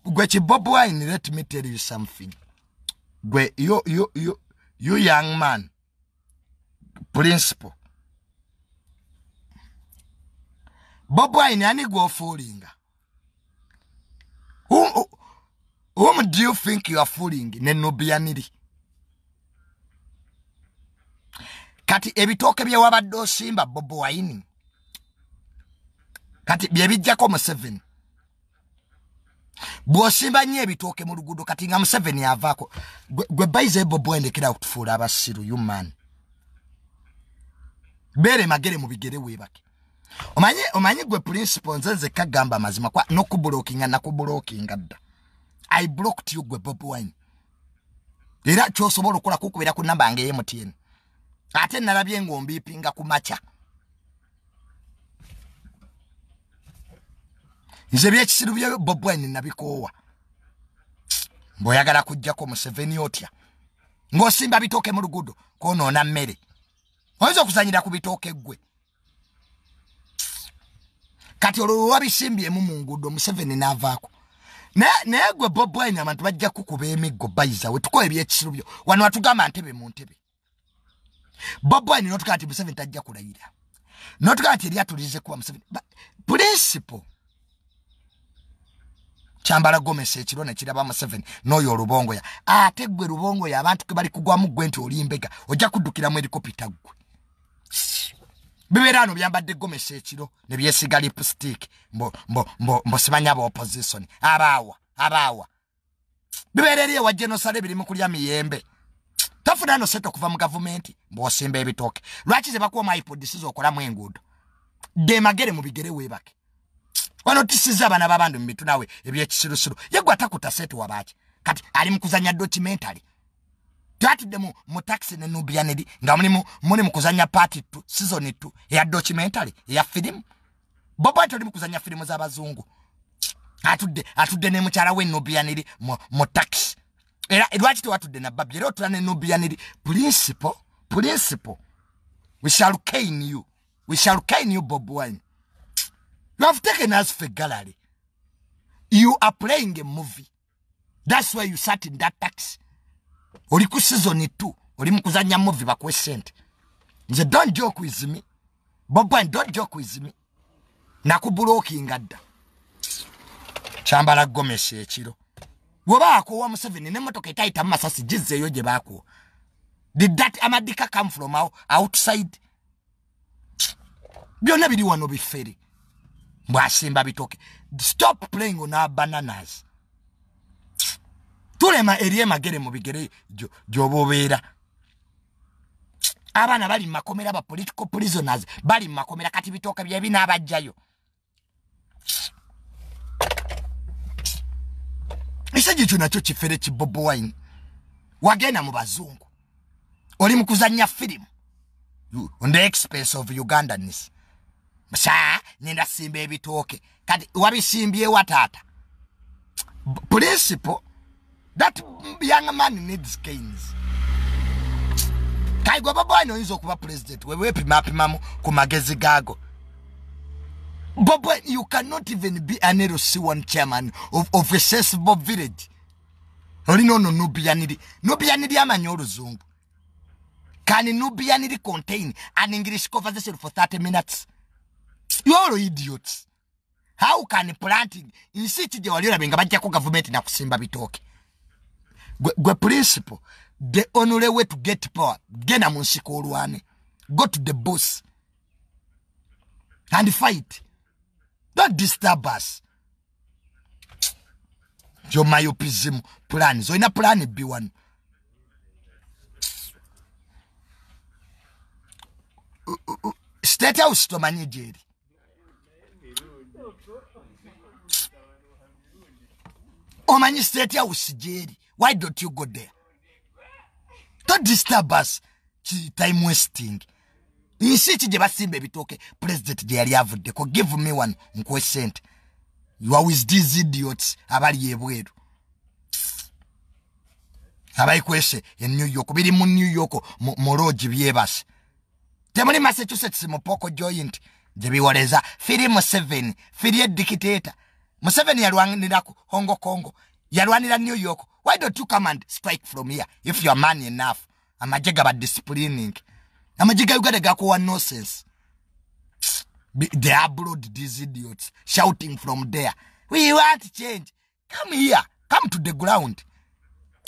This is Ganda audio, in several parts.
gwe ki bob wine let me tell you something gwe you, you, you, you young man principle bob wine ani gwofuulinga whom do you think you are fooling ne nubianiri kati ebitooke byewabadde osimba bob wine kati byebijjako museveni bwosimba nnyo ebitooke mu luguudo kati nga museveni avaako gwe bayiza ebobo endekera okutufuula abasiru human beere magere mu bigere weebake omanyi omanyi gwe principal nze nze kagamba amazima kwa nokubulokinga nakubulokinga dda i blocked you gwe bob wine era kyosobola okukola kukubeera ku namba nga eyemutn ate nalabye ng'ombiipinga ku makya nze byekisiru bya bobwine nabikoowa mbweoyagala kujjako museveni otya ng'osimba bitooke mu luguudo kwonoona mmere oyinza okuzanyira ku bitooke ggwe kati olwo wewabisimbyemu mu nguudo museveni naavaako naye gwe bobwine abantu bajja kukuba emiggo bayizawe tukola ebyekisirubyo wano watugamba ntebe mu ntebe bobwine notugaa ti museveni tajja kulayira notugaa ti eryatulize kuba museveni principle kyambala gomesi ekiro nekiraba museveni noyo olubongoya ate gwe lubongoya abantu kebali kugwamu gwe nti olimbega ojja kuddukiramu erikopita gwe bibeera ano byambadde gomesa ekiro ne byesiga lipstick mbosimanya ba opposition abaawa abaawa bibeera eri ewa genosale biri mu kulya miyembe tafuna no sente okuva mu gavumenti mbwosimba ebitooke lwaki ze bakuwa maipodisi zokolamu enguudo demagere mubigere webake wano tisiza abana babandu mumitu nawe ebyekisirusiru yegwe atakuta sente wabaki kati ali mukuzanya documentary twatudde mu mu taxi ne nubia nedi nga mulimu muli mu kuzanya party tu season tu ya documentary ya film bobo atuli mu kuzanya film za bazungu atudde atudde ne muchara we nubia nedi mu, mu taxi era edwachite watudde na babi era otula ne nubia nedi principle principle we shall cane you we shall cane you bob wine you have taken us for gallery you are playing a movie that's why you sat in that taxi oli ku season 2 oli mukuzanya movie bakuwe sente nze don't joke with me bob wine don't joke with me nakubulokinga dda kyambala gomesi ekiro woba akuwa museveni nemotoka etayita mumasasi gizeeyo gye bakuwa did that amadika come from outside byonna biri wano bifere mbwasimba bitoke stop playing on our bananas tulema eri emagere mu bigere gyoba obeera abaana bali mu makomera ba political prisoners bali mu makomera kati bitooke byebinaabajjayo ekisajja ekyo nakyo kifere ki bob wine wagenda mu bazungu oli mu kuzannya firimu on the expense of ugandanis sa nenda simba ebitooke kati wabisimbyewa taata principle that young man needs canes kaigo bobo wine oyinza okuba president wewe epimapimamu ku magezi gaago bobo you cannot even be an lc one chairman of, of a sensible village olina ono nubiyaniri nubiyaniri amanyi oluzungu can nubiyaniri contain an english conversation for 30 minutes you're idiots how can planting nsi ki gye wali olabe nga bajjako gavumenti nakusimba bitooke gwe principle the only way to get power genda mu nsika olwane go to the bus and fight don't disturb us jomayopism plan zoina plan b one state house tomanyi gyeri omanyi state house gyeri why don't you go there to disturb us time wasting nsi ki gye basimba ebitooke president gye yali avuddeko give me one nkuwe sente yowis these idiots abali ebweru abayikwese e new york biri mu new york mu loogi byebase temuli massachusetts mu poko joint gye biwoleza firi museveni firi edikiteeta museveni yalwanira ku hongo congo yalwanira new york why don't you come and strike from here if youare man enough amagye gaba disciplining amagye ga uganda gakuwa nosense the abroad these idiots shouting from there we want change come here come to the ground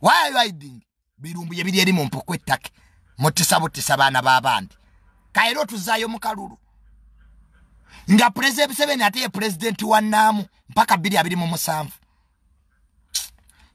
why are you hiding birumbu ye biri eri mu mpuku ettake mutisa butisa baana b'abandi kaera otuzaayo mu kalulu nga pulezidenti museveni ate ye pulezidenti wa naamu mpaka biri abiri mu musanvu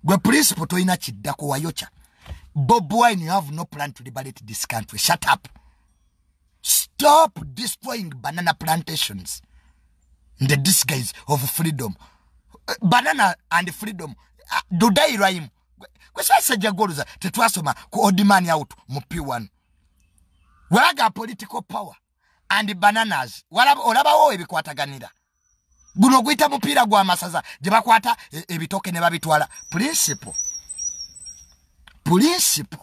gwe principle tolina kiddako wayokya bob wine you have no plan to liberate this country shut up stop destroying banana plantations in the disguise of freedom banana and freedom uh, do they rhyme kwesasajja goluza tetwasoma ku odman out mu p1 walaga political power and bananas olabawo ebikwataganira guno oguyita mupiira gwa masaza gye bakwata e, ebitooke ne babitwala principle principle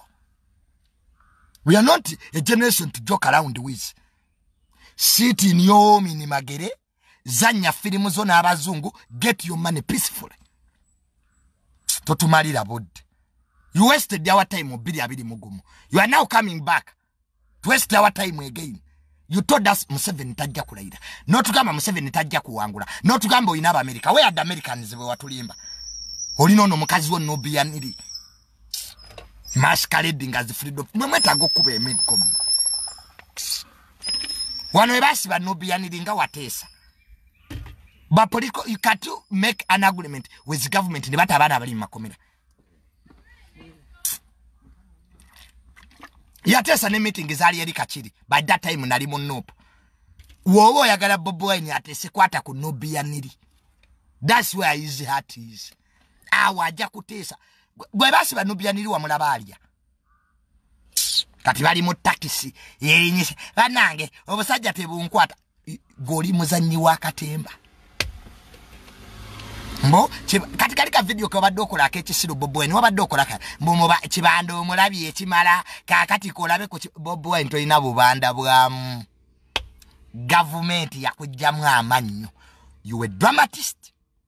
we are not a generation to joke around with sit in your home in magere zanya filimu zo n'abazungu get your money peacefully totumalira budde you wasted our time obiri abiri mugumu you are now coming back to waste our time again you told us museveni tajja kulayira notugamba museveni tajja kuwangula notugamba olina abamerica where the americans bwewatulimba olina ono mukazi wo nobiyaniri no maskaledi nga zifulidde mwe mwetaaga okukuba emiggo mu wano ebasiba nobiyaniri nga wateesa bapoliko you can to make an agreement with government ne bata abaana abali mu makomera yateesa ne meeting zaali eri kakiri by that time nali mu nope woba oyagala bobi wine atesekwata ku nobiyaniri thats where his heart is awo ajja kutiisa gwe basi banubianiri wamulaba alya kati bali mu takisi yerinyisa banange obusajja tebunkwata goli muzanyi wa katemba mbo kati kali ka video kobadde okola akekisiru bobo wine wabadde okola ka mbo muba kibanda omulabi ekimala kakati kolabe ku bobo wine tolina bubanda bwamu gavumenti yakujjamu amannyo you a dramatist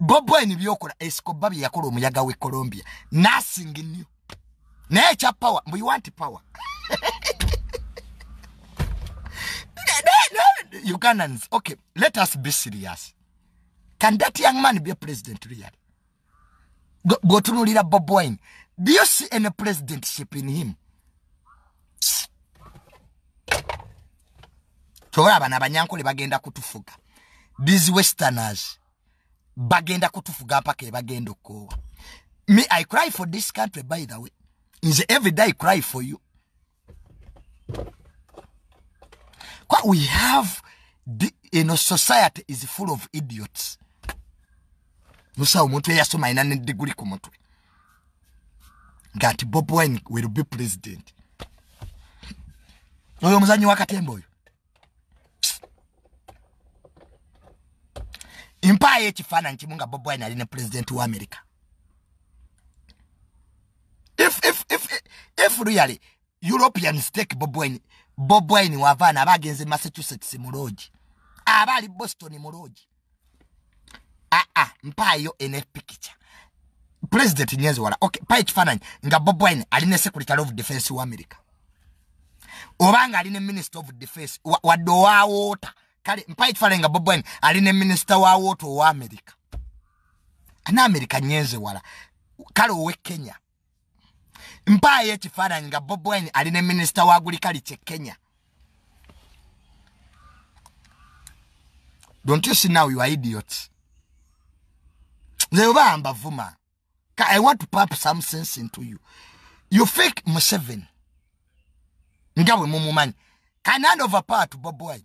bob wine byokola escoba bye yakola omuyaga we colombia nothing new naye ekya power mbu you want power ugandans okay let us be serious can that young man be a president really bwotunulira bob wine do you see any presidentship in him kyobola abana abanyankole bagenda kutufuga these westerners bagenda kutufuga mpaka ebagenda okukoowa me i cry for this country by the way nze every day cry for you kwa we have the, you know, society is full of idiots musawo omuntu eyasoma alina ne diguli ku mutwe nga nti bob wine will be president oyo omuzanyi wakatemba oyo mpaayo ekifaananyi kimu nga bob wine ali ne pulezidenti wa amerika if, if, if, if really european stake bob wine bob wine wavaana aba agenze massachusetts mu loogi aba ali boston mu loogi aa ah, ah, mpaayo enepikica president nyenzi wala ok pa ekifaananyi nga bob wine ali ne secretary of defense wa america oba nga ali ne minister of defense wadde owa woota kale mpa ekifaananyi nga bob wine ali ne minister wa woota owa america ana america nyenzi wala kale owe kenya mpaayo ekifaananyi nga bob wine ali ne minisita wa gulikali kye kenya don't you see now you are idiots nze oba mbavuma i want to pap some sense into you you fake museven nga bwe mumumanyi kanan over power to bob wine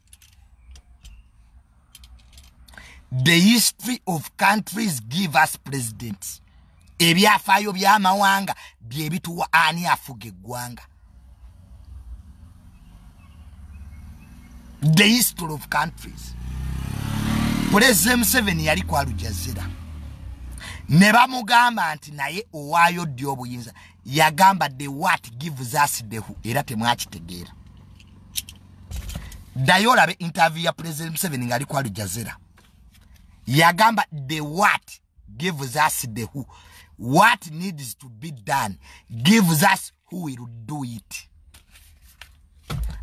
the history of countries give us presidents ebyafaayo by'amawanga bye bituwa ani afuga eggwanga the history of countries pulezida museveni yali ku alujazira ne bamugamba nti naye owaayo ddi obuyinza yagamba the wat gives us dehu era temwakitegeera ddayo olabe interview ya president museveni ngaali ku alijazera yagamba the what gives us the who what needs to be done gives us who will do it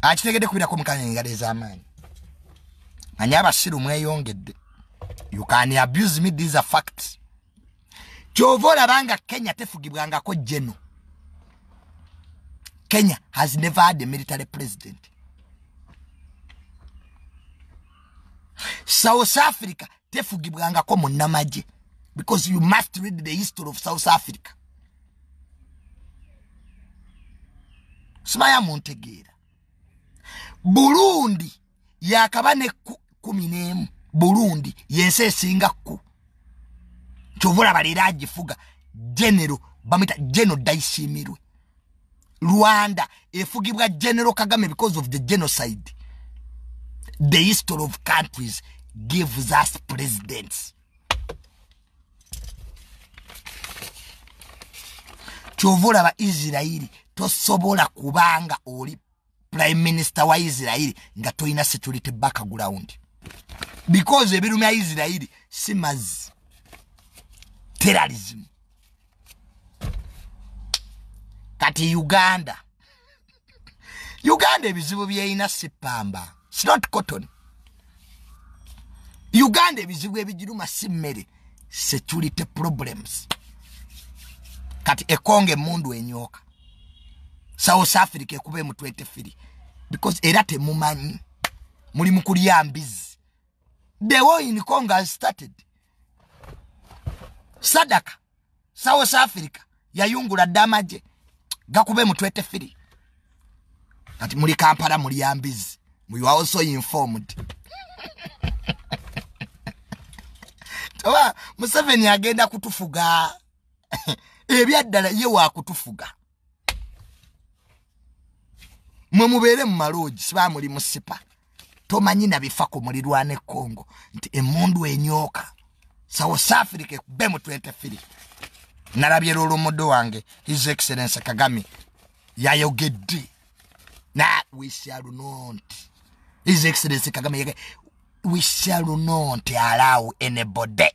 akitegedde kubirako mukanya engalo ez'amaanyi anyi abasiru mweyongedde you can abuse me these are facts kyova olaba nga kenya tefugibwangako geno kenya has never had a military president south africa tefugibwangako munamagye because you must read the history of south africa simaya muntegeera burundi yakaba ne kumi n'emu burundi yensi esinga ku kyovulaba leero agifuga genero bamwita geno daisimirwe rwanda efugibwa genero kagame because of the genocide the history of countries gives us presidents kyovulaba isirairi tosobola kubanga oli prime minister wa isirairi nga tolina security background because ebirumya isirairi si mazzi terrorism kati uganda uganda ebizibu byeyina sipamba sinot cotton uganda ebizibu ebigiruma si mmere security problems kati ekonga emundu enyoka south africa ekuba emu 23 because era temumanyi muli mukulya mbizi the war in congo has started sadaka south africa yayungula dda amagye gakube mu 23 kati muli kampala mulya mbizi you are also informed oba museveni agenda kutufuga ebyaddala ye wakutufuga mwe mubeere mu maloogi siba muli musipa tomanyi nabifa ku mulirwana e congo nti emundu enyooka south africa ekube mu 23 nalabye lwolomodo wange his excellence kagame yayogedde na wisialunont his excellence kagame yage wisialunont alaawo enebode